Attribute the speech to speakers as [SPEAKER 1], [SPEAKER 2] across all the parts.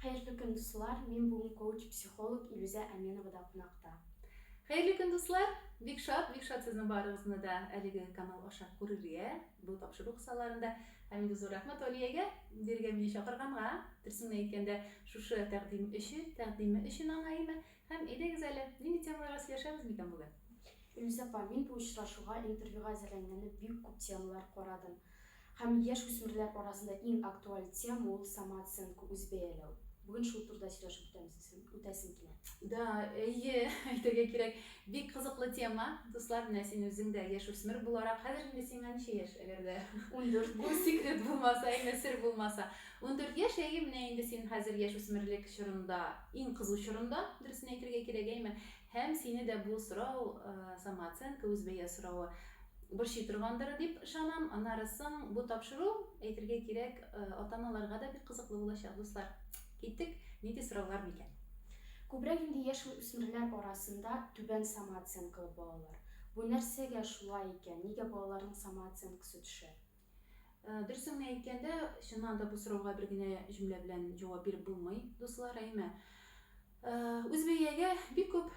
[SPEAKER 1] Хәерле көн дуслар, мин бүген коуч психолог Илүзә Әменовада кунакта. Хәерле көн
[SPEAKER 2] дуслар! Бик шат, бик шат сезнең барыгызны да әлеге канал аша күрергә, бу тапшыру кысаларында. Һәм инде зур рәхмәт Алиягә, бирегә мине чакырганга, дөресен генә әйткәндә, шушы тәкъдим өчен, тәкъдиме өчен аңа имә. Һәм әйдәгез әле, нинди темаларга сөйләшәбез микән бүген? Илүзә апа,
[SPEAKER 1] мин бу очрашуга, интервьюга әзерләнгәндә бик күп темалар карадым. Һәм яшь үсмерләр арасында иң актуаль тема ул самооценка, үзбәяләү. Бүген шул турыда сөйләшеп үтәбез өчен, үтәсем килә. Да, әйе,
[SPEAKER 2] әйтергә кирәк. Бик кызыклы тема, дуслар, менә син үзең дә яшь үсмер буларак, хәзер инде сиңа ничә яшь, әгәр дә Ундүрт. бу
[SPEAKER 1] секрет
[SPEAKER 2] булмаса, әйме, сер булмаса. Ундүрт яшь, әйе, менә инде син хәзер яшь үсмерлек чорында, иң кызу чорында, дөресен әйтергә кирәк, әйме. Һәм сине дә бу сорау, самооценка, үзбәя соравы борчый торгандыр, дип ышанам. Аннары соң бу тапшыру, әйтергә кирәк, ата-аналарга да бик кызыклы булачак, дуслар. Киттек, нинди сораулар микән? Күбрәк инде
[SPEAKER 1] яшьүсмерләр арасында түбән самооценкалы балалар. Бу нәрсәгә шулай икән? Нигә балаларның самооценкасы төшә? Дөресен
[SPEAKER 2] генә әйткәндә, чыннан да бу сорауга бер генә җөмлә белән җавап биреп булмый, дуслар, әйме? Үзбәягә бик күп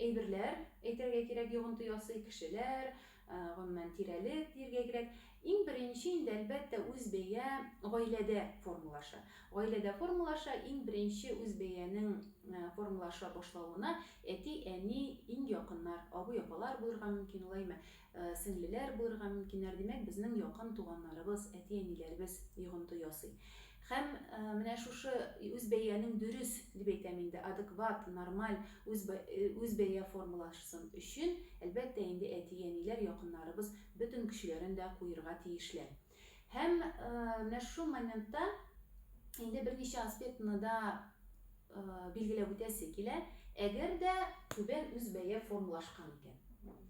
[SPEAKER 2] әйберләр, әйтергә кирәк, йогынты ясый, кешеләр, гомумән, тирәлек диергә кирәк. Иң беренче инде, әлбәттә, үзбәя гаиләдә формалаша. Гаиләдә формалаша, иң беренче үзбәянең формалаша башлавына әти, әни, иң якыннар, абый, апалар булырга мөмкин ул, әйме? Сеңлеләр булырга мөмкиннәр, димәк, безнең якын туганнарыбыз, әти-әниләребез йогынты ясый. Һәм менә шушы үз бәянең дөрес, дип әйтәм инде, адекват, нормаль, үз үз бәя формулашсын өчен, әлбәттә инде, әти-әниләр, якыннарыбыз бөтен көчләрен дә куерга тиешләр. Һәм менә шул моментта инде берничә аспектны да билгеләп үтәсе килә. Әгәр дә түбән үз бәя формалашкан икән.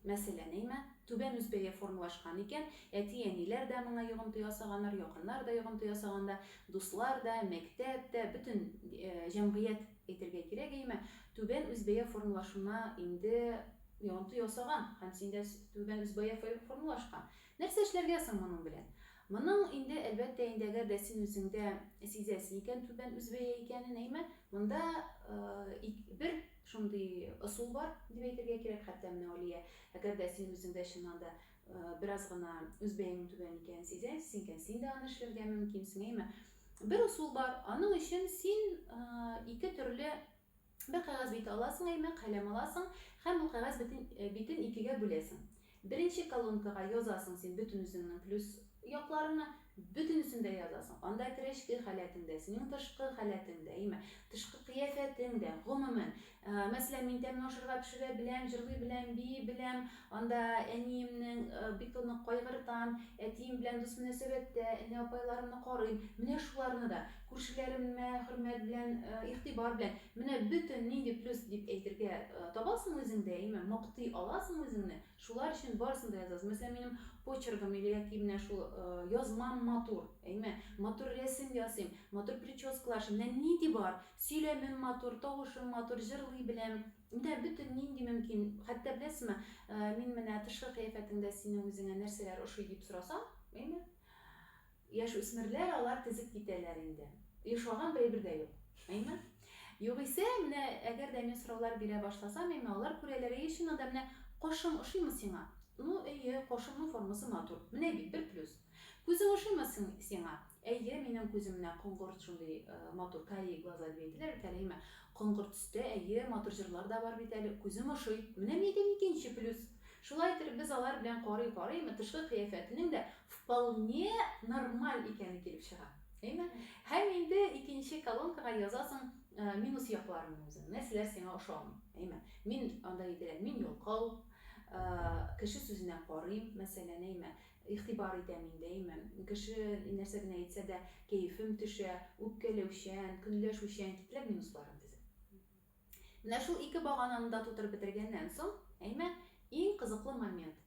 [SPEAKER 2] Мәсәлән, әйме, түбән үз бәя формалашкан икән, әти-әниләр дә моңа йогынты ясаганнар, якыннар да йогынты ясаганда, дуслар да, мәктәп тә, бөтен җәмгыять әйтергә кирәк, әйме, түбән үз бәя формалашуына инде йогынты ясаган һәм синдә түбән үз бәя формалашкан. Нәрсә эшләргә соң моның белән? Моның инде, әлбәттә инде, әгәр дә син үзең дә сизәсе икән түбән үзбәя икәнен, әйме, монда бер шундый ысул бар, дип әйтергә кирәк, хәтта менә Алия, әгәр дә син үзең дә чыннан да бераз гына үзбәяң түбән икәнен сизәсе икән, син дә аны эшләргә мөмкинсең, әйме. Бер ысул бар, аның өчен син ике төрле Бер кәгазь бите аласың, әйме, каләм аласың һәм бу кәгазь бетен битен икегә бүләсең. Беренче колонкага язасың син бөтен үзеңнең плюс якларыңны, бөтенесен дә язасың. Анда керә эчке халәтең дә, синең тышкы халәтең дә, әйме, тышкы кыяфәтең дә, гомумән. Мәсәлән, мин тәмле ашарга пешерә беләм, җырлый беләм, бии беләм, анда әниемнең бик тә нык кайгыртам, әтием белән дус мөнәсәбәттә, энә-апайларымны карыйм, менә шуларны да. Күршеләремә хөрмәт белән, игътибар белән. Менә бөтен нинди плюс дип әйтергә табасың үзеңдә, яме мактый аласың үзеңне, шулар өчен барысын да язасың. Мәсәлән, минем почеркым или яки менә шул язмам матур, яме матур рәсем ясыйм, матур прическалар эшлим, менә нинди бар, сөйләмем матур, тавышым матур, җырлый беләм. Менә бөтен нинди мөмкин. Хәтта беләсезме, мин менә тышкы кыяфәтеңдә синең үзеңә нәрсәләр ошый дип сорасам, яме, Яшүсмерләр алар тезеп китәләр инде. Ошаган бер әйбер дә юк. Әйме? Югыйсә, менә әгәр дә мин сораулар бирә башласам, әйме, алар күрәләр, Әйе, чыннан да, менә кошым ошыймы сиңа? Ну, әйе, кошымның формасы матур. Менә бит, бер плюс. Күзең ошыймы сиңа? Әйе, минем күзем менә коңгырт шундый матур, карие глаза дип әйтәләр бит әле, әйме? Коңгырт төстә, әйе, матур җырлар да бар бит әле, күзем ошый. Менә мин әйтәм, икенче плюс. Шулай иттереп без алар белән карый-карый, әйме, тышкы кыяфәтенең дә вполне нормаль икәне килеп чыга. Әйме? Һәм инде икенче колонкага язасың э, минус якларыңны үзең. Нәрсәләр сиңа ошамый? Әйме? Мин анда әйтелә, мин ялкау, э, кеше сүзенә карыйм, мәсәлән, әйме? Игътибар итәм инде, әйме? Кеше нәрсә генә әйтсә дә, кәефем төшә, үпкәләүчән, көнләшүчән, китләп минусларым тезеп. Менә шул ике багананы да тутырып бетергәннән соң, әйме, иң кызыклы момент.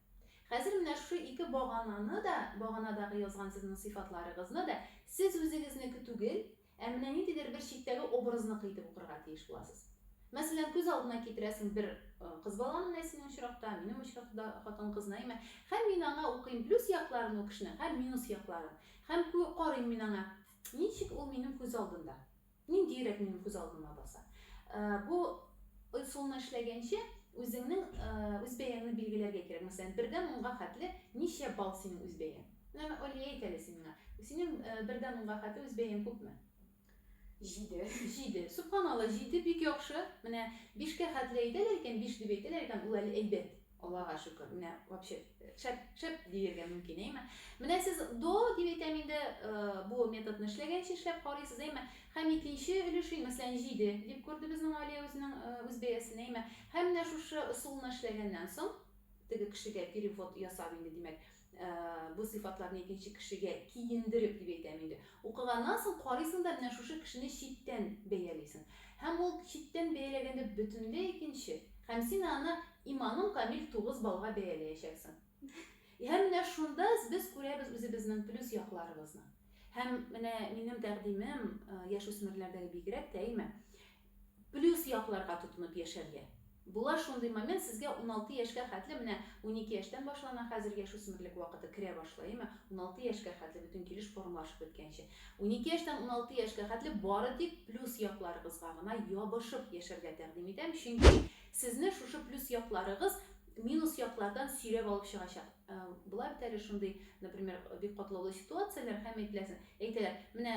[SPEAKER 2] Хәзер менә шушы ике багананы да, баганадагы язган сезнең сыйфатларыгызны да сез үзегезнеке түгел, ә менә ниндидер бер читтәге образныкы итеп укырга тиеш буласыз. Мәсәлән, күз алдына китерәсең бер кыз бала, менә синең очракта, минем очракта хатын-кызны, әйме, һәм мин аңа укыйм плюс якларын ул кешенең һәм минус якларын. Һәм карыйм мин аңа, ничек ул минем күз алдында. Ниндиерәк минем күз алдыма баса. Бу ысулны эшләгәнче, үзеңнең үз бәяңне билгеләргә кирәк. Мәсәлән, бердән унга хәтле ничә балл синең үз бәяң? Менә, Алия, әйт әле син миңа, синең бердән унга хәтле үз бәяң күпме? Җиде.
[SPEAKER 1] Җиде.
[SPEAKER 2] Сөбханалла, җиде бик яхшы. Менә бишкә хәтле әйтәләр икән, биш дип әйтәләр икән, ул әле әйбәт. Аллага шөкер, менә вообще шәп, шәп диергә мөмкин, әйме? Менә сез до дип әйтәм инде, бу методны эшләгәнче эшләп карыйсыз, әйме? Һәм икенче өлешен, мәсәлән, җиде дип күрде безнең Алия үзенең үз бәясен, әйме? Һәм менә шушы ысулны эшләгәннән соң, теге кешегә перевод ясап инде, димәк, Бу сыйфатларны икенче кешегә киендереп дип әйтәм инде. Укыганнан соң карыйсың да менә шушы кешене читтән бәялисең. Һәм ул читтән бәяләгәндә бөтенләй икенче. Һәм син аны иманым камил тугыз баллга бәяләячәксең. Һәм менә шунда без күрәбез үзебезнең плюс якларыбызны. Һәм менә минем тәкъдимем, яшүсмерләрдәге бигрәк тә, әйме? Плюс якларга тотынып яшәргә. Була шундый момент, сезгә уналты яшькә хәтле, менә унике яшьтән башлана хәзер яшүсмерлек вакыты, керә башлый, әйме, уналты яшькә хәтле, бөтен килеш формалашып беткәнче. Унике яшьтән уналты яшькә хәтле бары тик плюс якларыгызга гына ябышып яшәргә тәкъдим итәм, чөнки сезне шушы плюс якларыгыз минус яклардан сөйрәп алып чыгачак. Була бит әле шундый, например, бик катлаулы ситуацияләр, һәм әйтеләсең, әйтәләр, менә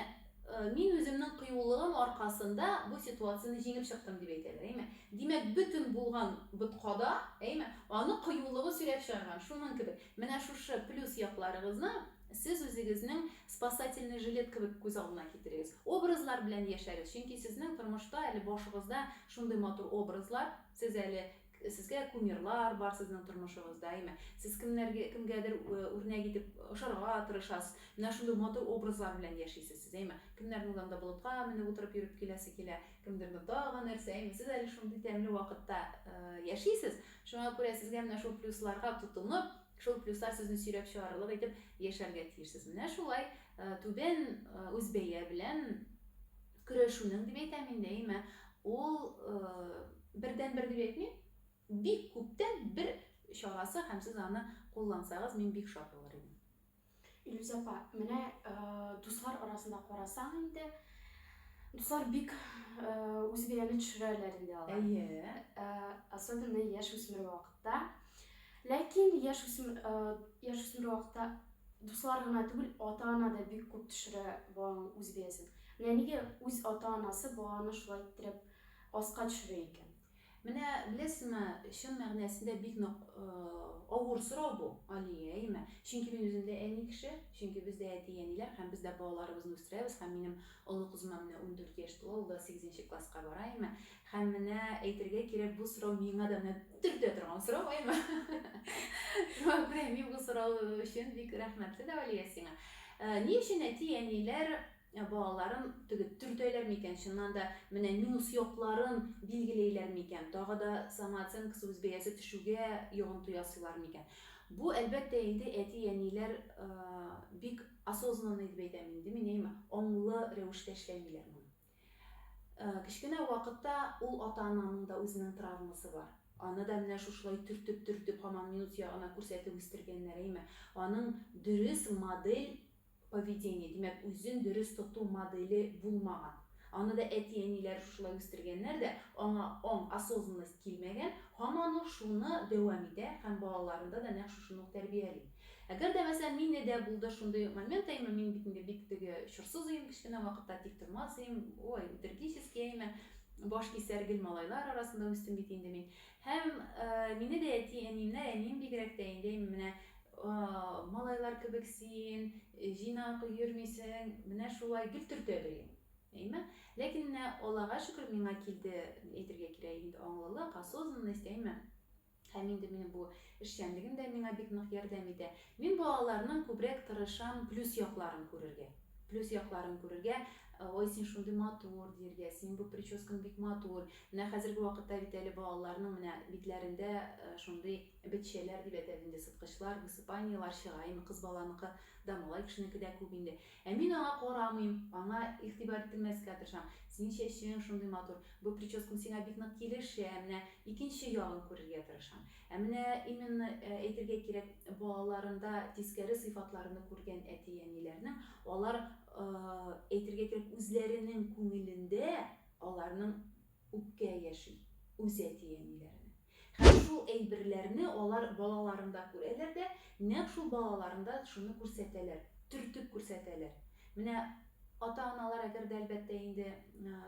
[SPEAKER 2] мин үземнең кыюлыгым аркасында бу ситуацияне җиңеп чыктым дип әйтәләр, әйме? Димәк, бөтен булган боткада, әйме, аны кыюлыгы сөйрәп чыгарган, шуның кебек. Менә шушы плюс якларыгызны сез үзегезнең спасательный жилет кебек күз алдына китерегез. Образлар белән яшәгез, чөнки сезнең тормышта әле башыгызда шундый матур образлар, сез әле Сезгә кумирлар бар сезнең тормышыгызда, әйме? Сез кемнәргә, кемгәдер э, үрнәк итеп ошарга тырышасыз. Менә шундый матур образлар белән яшисез сез, әйме? Кемнәрнең анда болытка менеп утырып йөреп киләсе килә, кемдернең тагын нәрсә, әйме? Сез әле шундый тәмле вакытта э, яшисез. Шуңа күрә сезгә менә шул плюсларга тотынып, шул плюслар сезне сөйрәп чыгарырлык итеп яшәргә тиешсез. Менә шулай э, түбән э, үзбәя белән Көрәшүнең дип әйтәм инде, әйме, ул бердәнбер дип әйтмим, бик күптән бер чарасы һәм сез аны куллансагыз, мин бик шат булыр идем. Илюз
[SPEAKER 1] апа, менә дуслар арасында карасаң инде, дуслар бик үзбәяне төшерәләр инде алар. Әйе.
[SPEAKER 2] Особенно
[SPEAKER 1] яшь үсмер вакытта. Ләкин яшь үсмер, яшь үсмер вакытта дуслар гына түгел, ата-ана да бик күп төшерә баланың үз бәясен. Менә нигә үз ата-анасы баланы шулай иттереп аска төшерә икән? Менә
[SPEAKER 2] беләсеңме, чын мәгънәсендә бик нык авыр сорау бу, Алия, әйеме? Чөнки мин үзем дә әни кеше, чөнки без дә әти-әниләр һәм без дә балаларыбызны үстерәбез һәм минем олы кызыма менә 14 яшь тула, ул да 8 нче класска бара, әйеме? Һәм менә, әйтергә кирәк, бу сорау миңа да менә төртә торган сорау, әйме? Шуңа күрә мин бу сорау өчен бик рәхмәтле дә, Алия, сиңа. Ни өчен әти-әниләр балаларын теге төртәләр микән, чыннан да, менә минус якларын билгеләйләр микән, тагы да самооценкасы, үз бәясе төшүгә йогынты ясыйлар микән? Бу, әлбәттә инде, әти-әниләр бик осознанный дип әйтәм инде мин, әйме, аңлы рәвештә эшләмиләр моны. Кечкенә вакытта ул ата-ананың да үзенең травмасы бар. Аны да менә шушылай төртеп-төртеп, һаман минут ягына күрсәтеп үстергәннәр, әйме? Аның дөрес модель поведения, димәк, үзен дөрес тоту моделе булмаган. Аны да әти-әниләре шушылай үстергәннәр дә, аңа аң, осознанность килмәгән, һаман ул шуны дәвам итә һәм балаларында да нәкъ шушыны ук тәрбияли. Әгәр дә мәсәлән мине дә булды шундый момент әйме мин бит инде бик теге чорсыз өем кечкенә вакытта тик тормас өем ой утергический әйме баш кисәр гел малайлар арасында үстем бит инде мин һәм мине дә әти әниемнәр әнием бигрәк тә инде менә малайлар кебек син җыйнак йөрмисең менә шулай гел төртәләр иде әйме ләкин менә аллага шөкер миңа килде әйтергә кирәк инде аңлылык осознанность әйме Һәм инде минем бу эшчәнлегем дә миңа бик нык ярдәм итә. Мин балаларның күбрәк тырышам плюс якларын күрергә. Плюс якларын күрергә, ой, син шундый матур, диергә, син бу прическаң бик матур. Менә хәзерге вакытта бит әле балаларның менә битләрендә э, шундый бетчәләр дип әйтәбез инде, сыткычлар, высыпаниелар чыга. Инде кыз баланыкы да, малай кешенеке дә күп инде. Ә мин аңа карамыйм, аңа игътибар ителмәскә тырышам. Синең чәчең шундый матур, бу прическаң сиңа бик нык килешә, менә икенче ягын күрергә тырышам. Ә менә именно әйтергә кирәк, балаларында тискәре сыйфатларны күргән әти-әниләрнең, алар, әйтергә кирәк, үзләренең күңелендә аларның Үпкә яши, үз әти-әниләренә. Һәм шул әйберләрне алар балаларында күрәләр дә, нәкъ шул балаларында шуны күрсәтәләр, төртеп күрсәтәләр. Менә ата-аналар әгәр дә, әлбәттә, инде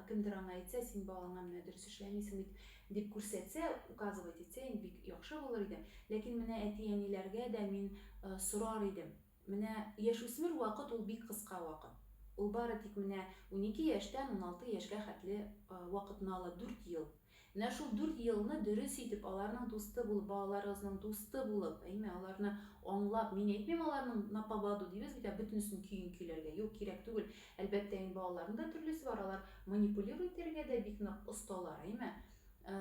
[SPEAKER 2] кемдер аңа әйтсә, син балаңа менә дөрес эшләмисең бит, дип күрсәтсә, указывать итсә, инде бик яхшы булыр иде. Ләкин менә әти-әниләргә дә мин сорар идем. Менә яшүсмер вакыт ул бик кыска вакыт. Ул бары тик менә унике яшьтән уналты яшьгә хәтле вакытны ала, дүрт ел. Менә шул дүрт елны дөрес итеп, аларның дусты булып, балаларыгызның дусты булып, әйме, аларны аңлап, мин әйтмим аларның на поводу дибез бит, ә бөтенесен көен көйләргә, юк, кирәк түгел. Әлбәттә инде балаларның да төрлесе бар, алар манипулировать итәргә дә бик нык осталар, әйме. Ә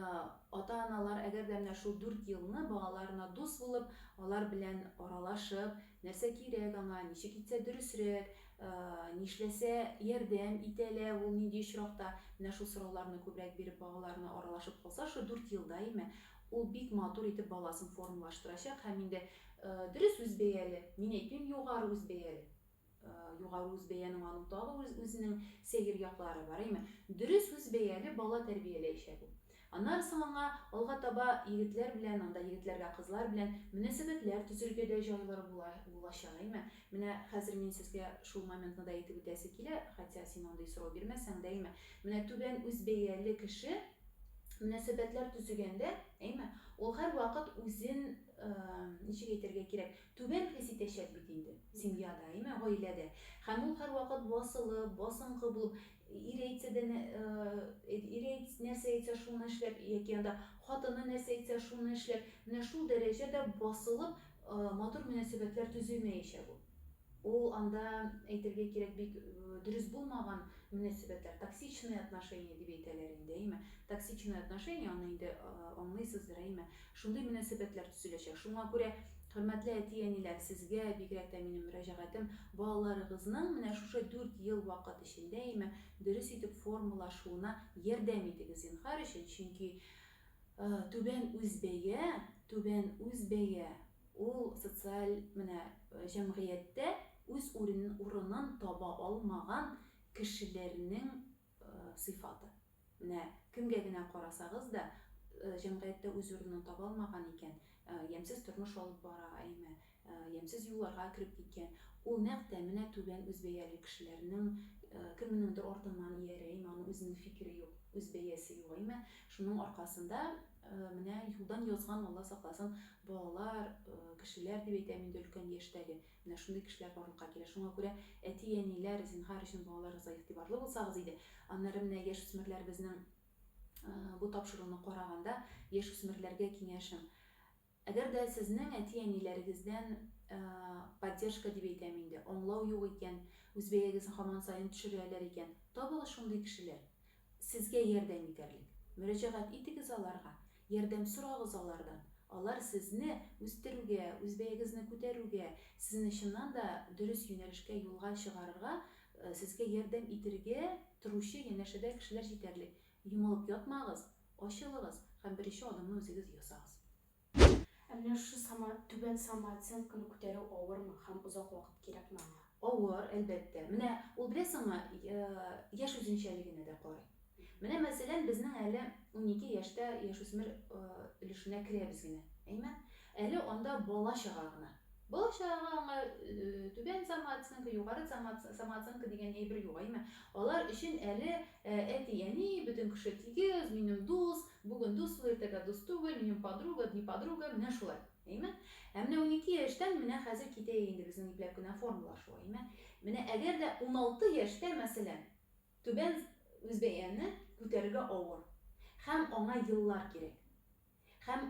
[SPEAKER 2] ата-аналар, әгәр дә менә шул дүрт елны балаларына дус булып, алар белән аралашып, нәрсә кирәк аңа, ничек итсә дөресрәк, нишләсә ярдәм итә лә ул, нинди очракта, менә шул сорауларны күбрәк биреп, балаларына аралашып калса, шул дүрт ел даими, ул бик матур итеп баласын формалаштырачак һәм инде дөрес үзбәяле, мин әйтмим, югары үзбәяле Югары үзбәянең аның тагы үз-үзенең сәер яклары бар, әйме? Дөрес үзбәяле бала тәрбияләячәк ул. Аннары соң аңа алга таба егетләр белән, анда егетләргә кызлар белән мөнәсәбәтләр төзергә дә җайлыр була, булачак, әйме? Менә хәзер мин сезгә шул моментны да әйтеп үтәсе килә, хотя син андый сорау бирмәсәң дә, әйме? Менә түбән үзбәяле кеше мөнәсәбәтләр төзегәндә, әйме, ул һәрвакыт үзен, ничек әйтергә кирәк, Түбән хис итәчәк бит инде. Семья да, әйме, гаилә дә. Һәм ул һәрвакыт басылып, басынкы булып, ире әйтсә дә, ире әйт, нәрсә әйтсә, шуны эшләп, яки анда хатыны нәрсә әйтсә, шуны эшләп, менә шул дәрәҗәдә басылып, матур мөнәсәбәтләр төзелмәячәк ул. Ул анда, әйтергә кирәк, бик дөрес булмаган мөнәсәбәтләр, токсичные отношения дип әйтәләр инде, әйме. Токсичные отношения, аны инде аңлыйсыздыр, әйме. Шундый мөнәсәбәтләр төзеләчәк. Шуңа күрә, хөрмәтле әти-әниләр, сезгә, бигрәк тә минем мөрәҗәгатем, балаларыгызның менә шушы дүрт ел вакыт эчендә име дөрес итеп формалашуына ярдәм итегез, зинһар өчен, чөнки түбән үз бәя, түбән үз бәя, ул социаль менә җәмгыятьтә үз урынын таба алмаган кешеләрнең сыйфаты. Менә кемгә генә карасагыз да, җәмгыятьтә үз урынын таба алмаган икән, ямьсез тормыш алып бара, әйме, ямьсез юлларга кереп киткән, ул нәкъ тә менә түбән үзбәяле кешеләрнең кемнеңдер артыннан иярә, әйме, аның үзенең фикере юк, үз бәясе юк, әйме, шуның аркасында менә юлдан язган, Алла сакласын, балалар, кешеләр дип әйтәм инде, өлкән яшьтәге, Менә шундый кешеләр барлыкка килә. Шуңа күрә, әти-әниләр, зинһар өчен балаларыгызга игътибарлы булсагыз иде. Аннары менә яшүсмерләребезнең бу тапшыруны караганда, яшүсмерләргә киңәшем. Әгәр дә сезнең әти-әниләрегездән поддержка дип әйтәм инде, аңлау юк икән, үз бәягезне һаман саен төшерәләр икән, табыгыз шундый кешеләр, сезгә ярдәм итәрлек. Мөрәҗәгать итегез аларга. Ярдәм сорагыз алардан. Алар сезне үстерүгә, үз бәягезне күтәрүгә, сезне чыннан да дөрес юнәлешкә, юлга чыгарырга, сезгә ярдәм итергә торучы янәшәдә кешеләр җитәрлек. Йомылып ятмагыз, ачылыгыз һәм беренче адымны үзегез ясагыз. Ә
[SPEAKER 1] менә шушы сама, түбән самооценканы күтәрү авырмы һәм озак вакыт кирәкме аңа? Авыр, әлбәттә.
[SPEAKER 2] Менә ул, беләсеңме, яшь үзенчәлегенә дә карый. Менә мәсәлән безнең әле унике яшьтә яшүсмер өлешенә керәбез генә. Әймән, әле анда бала-чага гына. Бала-чагага аңа түбән самооценка, югары самооценка дигән әйбер юк, әймә. Алар өчен әле әти-әни, бөтен кеше тигез, минем дус, бүген дусмы, иртәгә дус түгел, минем подруга, дни подруга, менә шулай. Әймә. Ә менә унике яшьтән менә хәзер китә инде безнең ипләп кенә формалар шул, әймә. Менә әгәр дә уналты яшьтә, мәсәлән, Түбән Үзбәяне күтәрергә авыр һәм аңа еллар кирәк. Һәм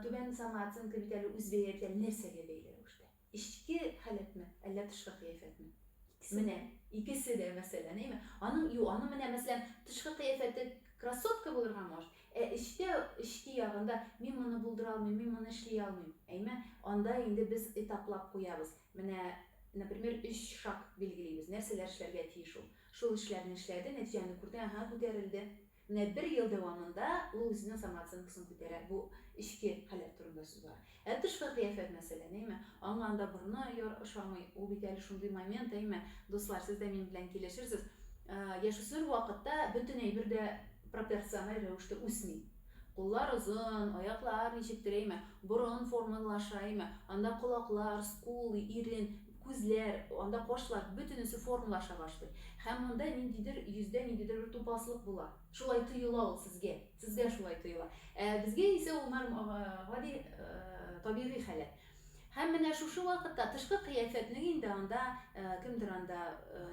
[SPEAKER 2] Түбән Самооценка бит әле Үзбәя белән нәрсәгә бәйле рәвештә? Эчке халәтме, әллә тышкы кыяфәтме? Менә, икесе дә мәсьәлә, әйме? Аның, юк, аның менә, мәсьәлән, тышкы кыяфәте красотка булырга может, ә эчтә, эчке ягында, мин моны булдыра алмыйм, мин моны эшли алмыйм, әйме? Анда инде без этаплап куябыз. Менә, например, өч шаг билгелибез, нәрсәләр эшләргә тиеш ул. Шул эшләрне эшләде, нәтиҗәне күрде, аһа, күтәрелде. Менә бер ел дәвамында ул үзенең самооценкасын күтәрә. Бу эчке халәт турында сүз бара. Ә тышкы кыяфәт мәсәлән, әйме? Аңа анда борыны яр ошамый, ул бит әле шундый момент, әйме? Дуслар, сез дә мин белән килешерсез, яшүсмер вакытта бөтен әйбер дә пропорциональ рәвештә үсми. Куллар озын, аяклар ничектер, әйме, борын формалаша, әйме, анда колаклар, скулы, ирен, күзләр, анда кашлар, бөтенесе формалаша башлый. Һәм монда ниндидер йөздә ниндидер бер тупаслык була. Шулай тоела ул сезгә. Сезгә шулай тоела. Ә безгә исә ул норм, гади, табигый халәт. Һәм менә шушы вакытта тышкы кыяфәтнең инде анда, кемдер анда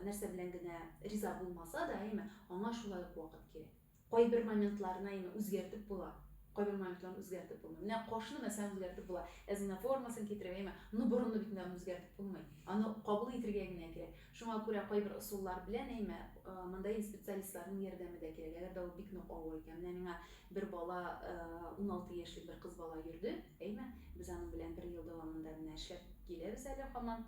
[SPEAKER 2] нәрсә белән генә риза булмаса да, әйме, аңа шулай ук вакыт кирәк. Кайбер моментларны именно үзгәртеп була, кайбер моментларны үзгәртеп булмый. Менә кашны мәсәлән үзгәртеп була, әзина формасын китереп, әйме, ну борынны бит инде аны үзгәртеп булмый. Аны кабул итергә генә кирәк. Шуңа күрә кайбер ысуллар белән, әйме, монда инде специалистларның ярдәме дә кирәк. Әгәр дә ул бик нык авыр икән, менә миңа бер бала, уналты яшьлек бер кыз бала йөрде, әйме, без аның белән бер ел дәвамында менә эшләп киләбез әле һаман.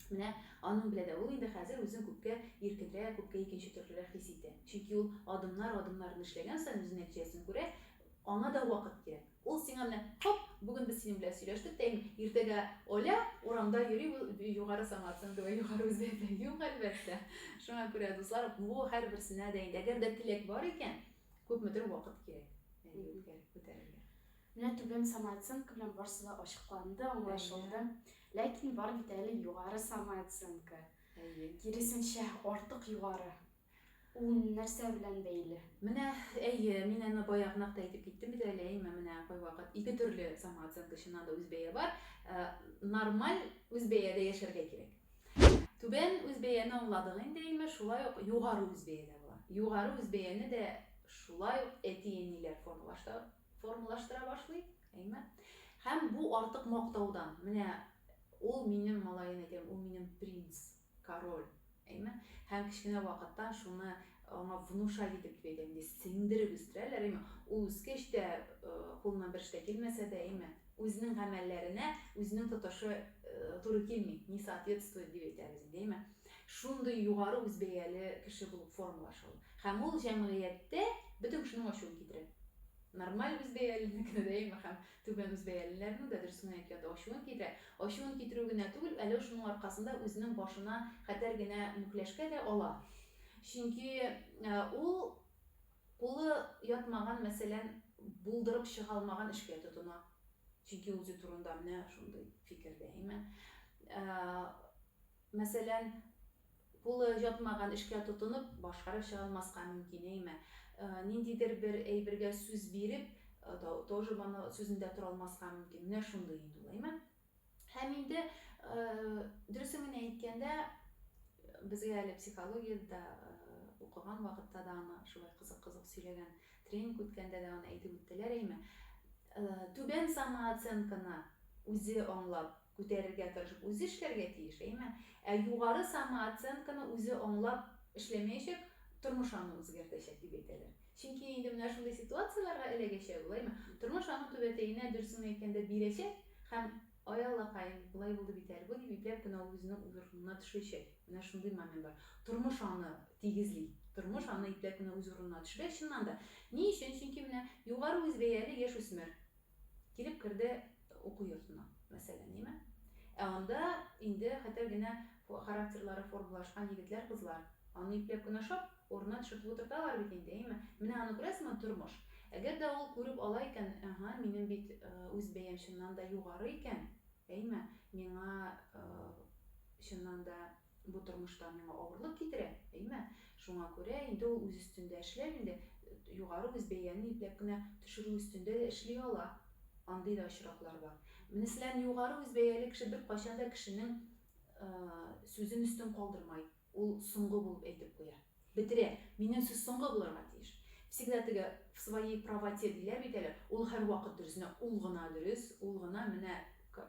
[SPEAKER 2] Менә аның белән дә ул инде хәзер үзен күпкә иркенрәк, күпкә икенче төрлерәк хис итә. Чөнки ул адымнар адымнарын эшләгән саен үзе нәтиҗәсен күрә, аңа да вакыт кирәк. Ул сиңа менә, Хоп, бүген без синең белән сөйләштек тә инде, иртәгә Оля урамда йөри, ул югары самооценка вә югары үзләрдә юк, әлбәттә. Шуңа күрә, дуслар, бу һәрберсенә дә инде, әгәр дә теләк бар икән, күпмедер вакыт кирәк әле үткәреп күтәрергә. Менә
[SPEAKER 1] түбән самооценка белән барсы да ачыкланды, аңлашылды. Ләкин бар бит әле югары самооценка. Әйе. Киресенчә, артык югары. Ул нәрсә белән бәйле? Менә, әйе,
[SPEAKER 2] мин аны баягынак та әйтеп киттем бит әле, әйеме, менә кайвакыт ике төрле самооценка, чыннан да үзбәя бар, нормаль үзбәядә яшәргә кирәк. Түбән үзбәяне аңладык инде, әйеме, шулай ук югары үзбәя дә була. Югары үзбәяне дә шулай ук әти-әниләр формалаштыра башлый, әйеме. Һәм бу артык мактаудан, менә ул минем малаем, әйтәм, ул минем принц, Король, әйме? Һәм кечкенә вакыттан шуны аңа внушать итеп дип әйтәм инде, сеңдереп үстерәләр, әйме? Ул үскәч тә, кулыннан бер эш тә килмәсә дә, әйме? Үзенең гамәлләренә үзенең тотышы туры килми, не соответствует дип әйтәбез инде, әйме? Шундый югары үзбәяле кеше булып формалаша ул. Һәм ул җәмгыятьтә бөтен кешенең ачуын китерә. Нормаль үзбәялелекне дә, әйме? Һәм Түбән үзбәялеләрнең дә дөресен әйткәндә ачуын китерә. Ачуын китерү генә түгел, әле шуның аркасында үзенең башына хәтәр генә мүкләшкә дә ала. Чөнки ул кулы ятмаган, мәсәлән, булдырып чыга алмаган эшкә тотына. Чөнки үзе турында менә шундый фикердә, әйме? Мәсәлән, Кулы ятмаган эшкә тотынып, башкарып чыга алмаска мөмкин, әйме? Ниндидер бер әйбергә сүз биреп, тоже моны сүзендә тора алмаска мөмкин. Менә шундый инде ул, әйме? Һәм инде, дөресен генә әйткәндә, безгә әле психологиядә дә укыган вакытта да аны шулай кызык-кызык сөйләгән, тренинг үткәндә дә аны әйтеп үттеләр, әйме? Түбән самооценканы үзе аңлап, Күтәрергә тырышып, үзе эшләргә тиеш, әйеме? Ә югары самооценканы үзе аңлап эшләмәячәк, тормыш аны үзгәртәчәк, дип әйтәләр. Чөнки инде менә шундый ситуацияләргә эләгәчәк ул, әйеме? Тормыш аның түбәтәенә, дөресен әйткәндә, бирәчәк һәм, Ай, аллакаем, болай булды бит әле бу, дип ипләп кенә ул үзенең урынына төшерәчәк. Менә шундый момент бар. Тормыш аны тигезли. Тормыш аны ипләп кенә үз урынына төшерә, чыннан да. Ни өчен? Чөнки менә югары үзбәяле яшүсмер, Килеп керде уку йортына, мәсәлән, име? Ә анда инде хәтәр генә характерлары формалашкан егетләр-кызлар, аны ипләп кенә ашап, урынына төшертеп утырталар бит инде, име? Менә аны күрәсеңме, тормыш. Әгәр дә ул күреп ала икән, әһә, минем бит үз бәям чыннан да югары икән, әйме, миңа чыннан да, Бу тормышта миңа авырлык китерә, әйме? Шуңа күрә инде ул үз өстендә эшләп инде, югары үз бәяне ипләп кенә төшерү өстендә дә эшли ала. Андый да очраклар бар. Мнслян, югары үз бәяле кеше беркайчан да кешенең сүзен өстен калдырмай, ул соңгы булып әйтеп куя. Бетерә, минем сүз соңгы булырга тиеш. Всегда теге в своей правоте диләр бит әле, ул һәрвакыт дөрес, менә ул гына дөрес, ул гына менә к,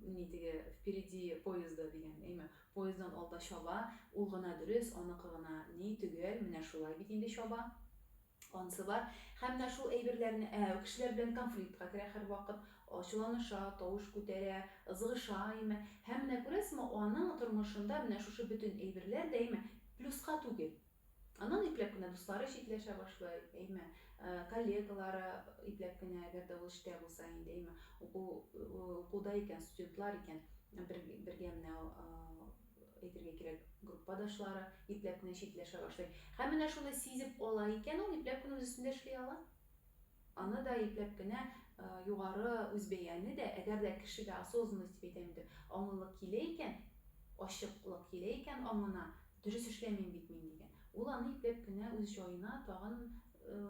[SPEAKER 2] ни теге впереди поезда дигән, әйме, поезддан алда чаба, ул гына дөрес, аныкы гына ни, төгәл, менә шулай бит инде чаба. Ансы бар. Һәм менә шул әйберләрне, ә, кешеләр белән конфликтка керә һәрвакыт, ачуланыша, тавыш күтәрә, ызгыша, әйеме. Һәм менә күрәсезме, аның тормышында менә шушы бөтен әйберләр дә, әйеме, плюска түгел. Аннан ипләп кенә дуслары читләшә башлый, әйеме, коллегалары ипләп кенә, әгәр дә ул эштә булса инде, әйеме, уку, укуда икән, студентлар икән, бергә менә әйтергә кирәк, группадашлары ипләп кенә читләшә башлый. Һәм менә шуны сизеп ала икән ул, ипләп кенә үз өстендә эшли ала. Аны да ипләп кенә югары үзбәяне дә, әгәр дә кешегә осознанность дип әйтәм инде, аңлылык килә икән, ачыклык килә икән аңына, дөрес эшләмим бит мин дигән, ул аны ипләп кенә үз җаена тагын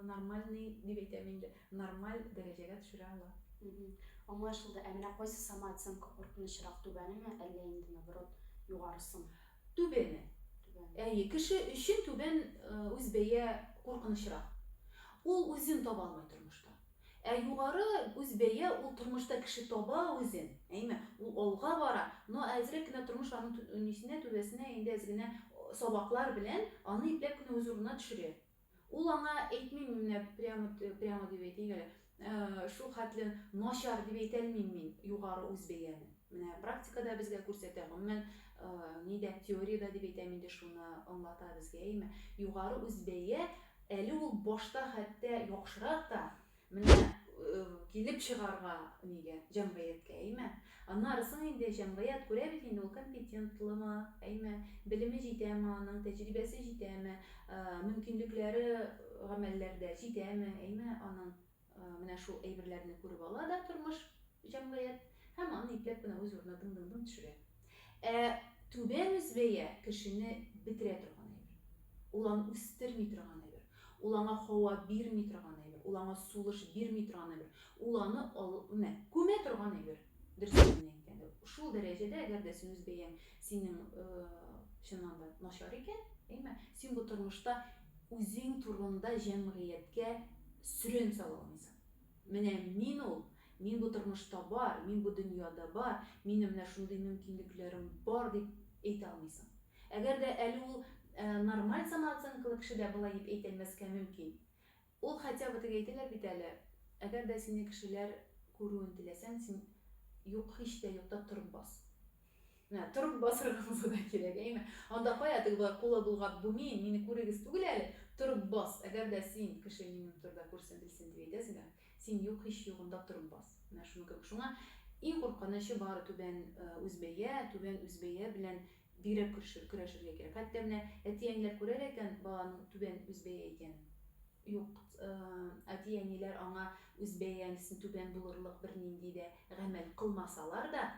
[SPEAKER 2] Нормальный дип әйтәм инде. Нормаль дәрәҗәгә төшерә ала. Аңлашылды.
[SPEAKER 1] Ә менә кайсы самооценка куркынычрак, түбәнеме, әллә инде наоборот, югарысымы? Түбәне.
[SPEAKER 2] Түбәне. Әйе, кеше өчен түбән үз бәя куркынычрак. Ул үзен таба алмый тормышта. Ә югары үз бәя ул тормышта кеше таба үзен, әйме, ул алга бара, но әзрәк кенә тормыш аның нисенә, түбәсенә инде әз генә сабаклар белән аны ипләп кенә үз урынына төшерә. Ул аңа әйтмим менә прямо, прямо дип әйтик әле, э, шул хәтле начар дип әйтәлмим мин югары үз бәяне. Менә практикада безгә күрсәтә, гомумән, э, нидә теориядә дип әйтәм инде шуны аңлата безгә, әйме? Югары үз бәя, әле ул башта хәтта яхшырак та, Менә килеп чыгарга нигә җәмгыятькә, әйме? Аннары соң инде җәмгыять күрә бит инде ул компетентлымы, әйме? Белеме җитәме аның, тәҗрибәсе җитәме, мөмкинлекләре гамәлләрдә җитәме, әйме, аның? Менә шул әйберләрне күреп ала да тормыш, җәмгыять һәм аны ипләп кенә үз урынына дың-дың-дың төшерә. Ә түбән үзбәя кешене бетерә торган әйбер. Ул аны үстерми торган әйбер. Ул аңа һава бирми торган әйбер. Ул аңа сулыш бирми торган әйбер. Ул аны ал, мә, күмә торган әйбер. Дөресен генә әйткәндә, шул дәрәҗәдә, әгәр дә син үзбәяң синең, э, чыннан да начар икән, әйме, син бу тормышта үзең турында җәмгыятькә сөрен сала алмыйсың. Менә мин ул, мин бу тормышта бар, мин бу дөньяда бар, минем менә шундый мөмкинлекләрем бар, дип әйтә алмыйсың. Әгәр дә әле ул нормаль самооценкалы кеше дә болай дип әйтә алмаска мөмкин. Ул хотя бы теге әйтәләр бит әле, әгәр дә сине кешеләр күрүен теләсәң, син юк, һич тә юкта торып бас. Менә торып басырга булса да кирәк, әйме? Анда кая теге болай кулы болгап гүмим, мине күрегез түгел әле, торып бас, әгәр дә син, кеше минем турыда күрсен, белсен дип әйтәсең дә, син юк һич югында торып бас. Менә шуның кебек. Шуңа иң куркынычы бары түбән үзбәя, түбән үзбәя белән бигрәк көршер, көрәшергә кирәк. Хәтта менә әти-әниләр күрә лә икән баланың түбән үзбәя икәнен. Юк, әти-әниләр аңа үзбәя, әнисен түбән булырлык бернинди дә гамәл кылмасалар да,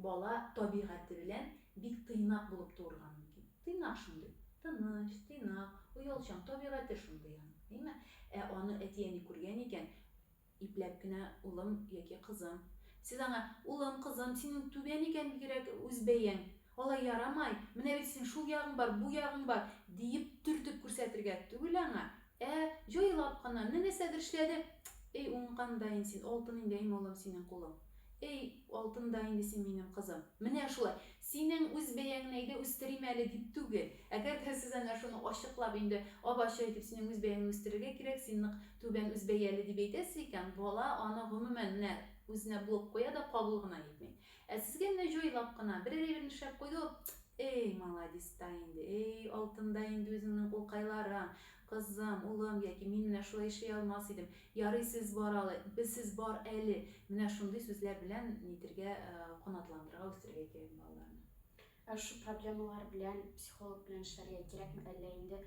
[SPEAKER 2] Бала табигате белән бик тыйнак булып туырга мөмкин. Тыйнак шундый, тыныч, тыйнак, оялчан, табигате шундый аның, әйме? Ә аны әти-әни күргән икән, ипләп кенә, улым яки кызым, сез аңа, улым, кызым, синең түбән икән бигрәк үз бәяң, алай ярамай, менә бит синең шул ягың бар, бу ягың бар, диеп төртеп күрсәтергә түгел аңа, Ә, җайлап кына, менә нәрсә дершләде! Эй, уңган да ин син, алтын инде, әйме, улым, синең кулың. Эй, алтын да инде син, минем кызым. Менә шулай. Синең үз бәяңне әйдә үстерим әле дип түгел. Әгәр дә сез әнә шуны ачыклап инде, ап-ачык итеп синең үз бәяңне үстерергә кирәк, син нык түбән үз бәяле дип әйтәсез икән, бала аны, гомумән, менә үзенә блок куя да кабул гына итми. Ә сезгә менә җайлап кына, берәр әйбер нишләп куйды ул, Эй, маладис та инде, эй, алтын да инде үзеңнең кулкайларың, кызым, улым, яки мин менә шулай эшли алмас идем, ярый сез бар алы, сез бар әле, менә шундый сүзләр белән нитергә, канатландырырга, үстерергә кирәк балаларны. Ә шул
[SPEAKER 1] проблемалар белән психолог белән эшләргә кирәкме, әллә инде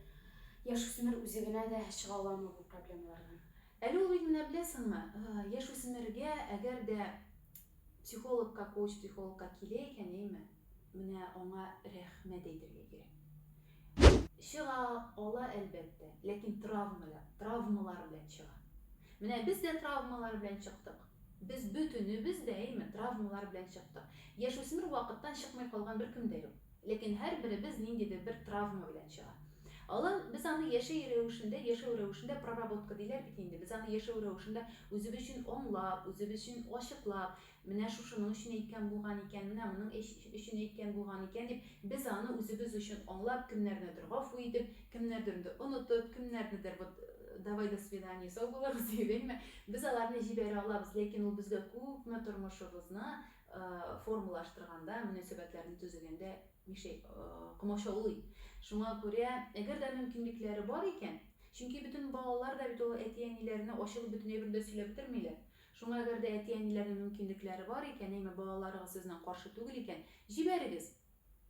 [SPEAKER 1] яшүсмер үзе генә дә чыга аламы бу проблемалардан? Әле ул бит менә
[SPEAKER 2] беләсеңме, яшүсмергә әгәр дә психологка, коуч-психологка килә икән, әйме, менә аңа рәхмәт әйтергә кирәк. Чыга ала, әлбәттә, ләкин травмалар белән чыга. Менә без дә травмалар белән чыктык. Без бөтенебез дә, әйеме, травмалар белән чыктык. Яшүсмер вакыттан чыкмый калган беркем дә юк. Ләкин һәрберебез ниндидер бер травма белән чыга. Алан, без аны яшәй рәвешендә, яшәү рәвешендә проработка диләр бит инде, без аны яшәү рәвешендә үзебез өчен аңлап, үзебез өчен ачыклап, менә шушының өчен әйткән булган икән, менә моның өчен әйткән булган икән дип, без аны үзебез өчен аңлап, кемнәрнедер гафу итеп, кемнәрдернде онытып, кемнәрнедер вот давай до свидания, сау булыгыз диеп, әйеме, Без аларны җибәрә алабыз, ләкин ул безгә күпме тормышыбызны формалаштырганда, мөнәсәбәтләрне төзегәндә мишәй, комачаулый. Шуңа күрә, әгәр дә мөмкинлекләре бар икән, чөнки бөтен балалар да бит ул әти-әниләренә ачылып бөтен әйберне дә сөйләп бетермиләр. Шуңа әгәр дә әти-әниләрнең мөмкинлекләре бар икән, әйме балаларыгыз сезнең каршы түгел икән, җибәрегез!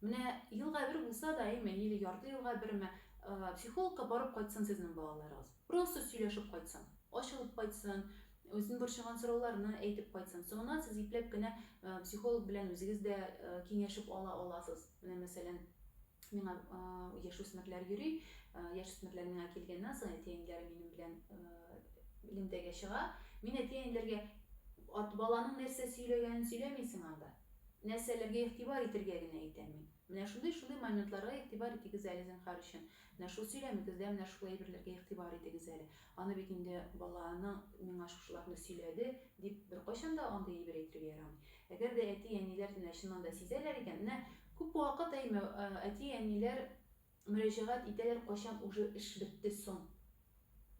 [SPEAKER 2] Менә елга бер булса да, әйме, или ярты елга берме, психологка барып кайтсын сезнең балаларыгыз. Просто сөйләшеп кайтсын, ачылып кайтсын, үзен борчыган сорауларны әйтеп кайтсын. Соңыннан сез ипләп кенә психолог белән үзегез дә киңәшеп ала аласыз. Менә мәсәлән, миңа яшүсмерләр йөри, яшүсмерләр миңа килгәннән соң әти-әниләре минем белән элемтәгә чыга. Мин әти-әниләргә баланың нәрсә сөйләгәнен сөйләмисең анда. Нәрсәләргә игътибар итергә генә әйтәм мин. Менә шундый-шундый моментларга игътибар итегез әле, зинһар өчен. Менә шул сөйләмегездә менә шул әйберләргә игътибар итегез әле. Аны бит инде баланың миңа шушыларны сөйләде, дип беркайчан да андый әйбер әйтергә ярамый. Әгәр дә әти-әниләр менә чыннан да сизәләр икән, менә күп вакыт әйме, әти-әниләр, Мөрәҗәгать итәләр кайчан уже эш бетте соң?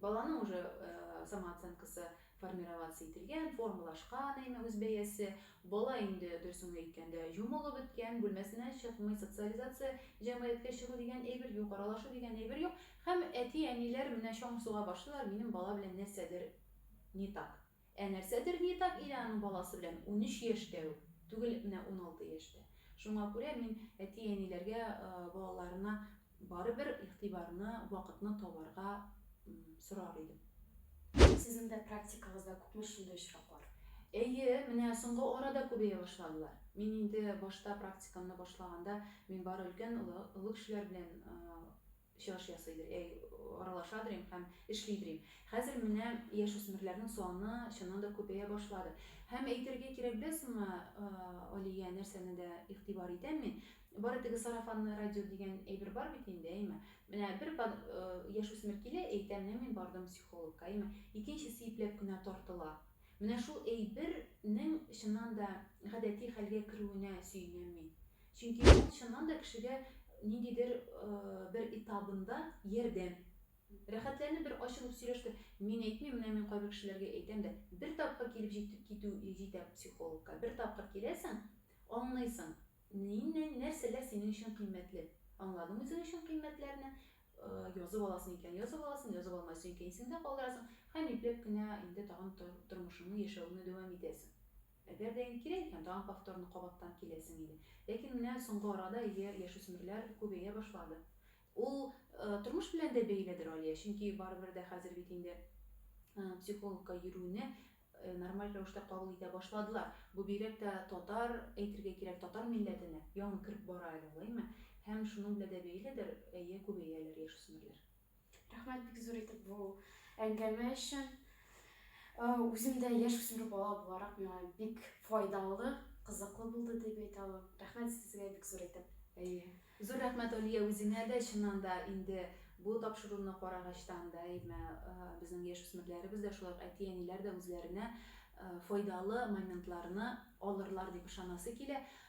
[SPEAKER 2] Баланың уже самооценкасы формироваться ителгән, формалашкан әйме үз бәясе, бала инде дөресен генә әйткәндә җумылып беткән, бүлмәсеннән чыкмый, социализация, җәмгыятькә чыгу дигән әйбер юк, аралашу дигән әйбер юк, һәм әти-әниләр менә чаң суга башлыйлар, минем бала белән нәрсәдер не так. Ә нәрсәдер не так иде аның баласы белән, унөч яшь тә үк түгел, менә уналты яшьтә. Шуңа күрә мин әти-әниләргә балаларына барыбер игътибарны, вакытны табарга сорар идем. Сезнең
[SPEAKER 1] дә практикагызда күпме шундый очраклар? Әйе, менә
[SPEAKER 2] соңгы арада күбәя башладылар. Мин инде башта практикамны башлаганда, мин бары өлкән, олы кешеләр белән Чыгыш ясый дер, әй, аралаша дер им һәм эшли дер им. Хәзер менә яшүсмерләрнең саны чыннан да күбәя башлады. Һәм әйтергә кирәк, беләсеңме, Алия, нәрсәне дә игътибар итәм мин, бары теге сарафанное радио дигән әйбер бар бит инде, әйме? Менә бер яшүсмер килә, әйтә, менә мин бардым психологка, әйме? Икенчесе ипләп кенә тартыла. Менә шул әйбер нең чыннан да гадәти хәлгә керүенә сөенәм мин. Чөнки ул чыннан да кешегә ниндидер бер этабында ярдәм. Рәхәтләнеп бер ачылып сөйләште. Мин әйтмим, менә мин кайбер кешеләргә әйтәм дә, бер тапкыр килеп җитеп китү җитә психологка. Бер тапкыр киләсең, аңлыйсың, ниннән, нәрсәләр синең өчен кыйммәтле. Аңладың үзең өчен кыйммәтләрне, язып аласың икән, язып аласың, язып алмайсың икән, исеңдә калдырасың һәм ипләп кенә инде тагын тормышыңны, яшәвеңне дәвам итәсең. Әгәр дә инде кирәк икән, тагын повторно кабаттан киләсең иде. Ләкин менә соңгы арада өйгә яшүсмерләр күбәя башлады. Ул тормыш белән дә бәйледер, Алия, чөнки барыбер дә хәзер бит инде психологка йөрүне нормаль рәвештә кабул итә башладылар. Бу бигрәк тә татар, әйтергә кирәк, татар милләтенә яңа кереп бара әле, алаймы? Һәм шуның белән дә бәйледер, әйе, күбәяләр яшүсмерләр. Рәхмәт бик
[SPEAKER 1] зур итеп бу әңгәмә өчен. Э, үзем дә яшь үсмер бала буларак миңа бик файдалы, кызыклы булды дип әйтә алам. Рәхмәт сезгә бик зур итеп. Әйе. Зур рәхмәт,
[SPEAKER 2] Алия, үзеңә дә. Чыннан да, инде бу тапшыруны карагачтан да, әйме, э, безнең яшь үсмерләребез дә, шулай ук әти-әниләр дә үзләренә э, файдалы моментларны алырлар дип ышанасы килә.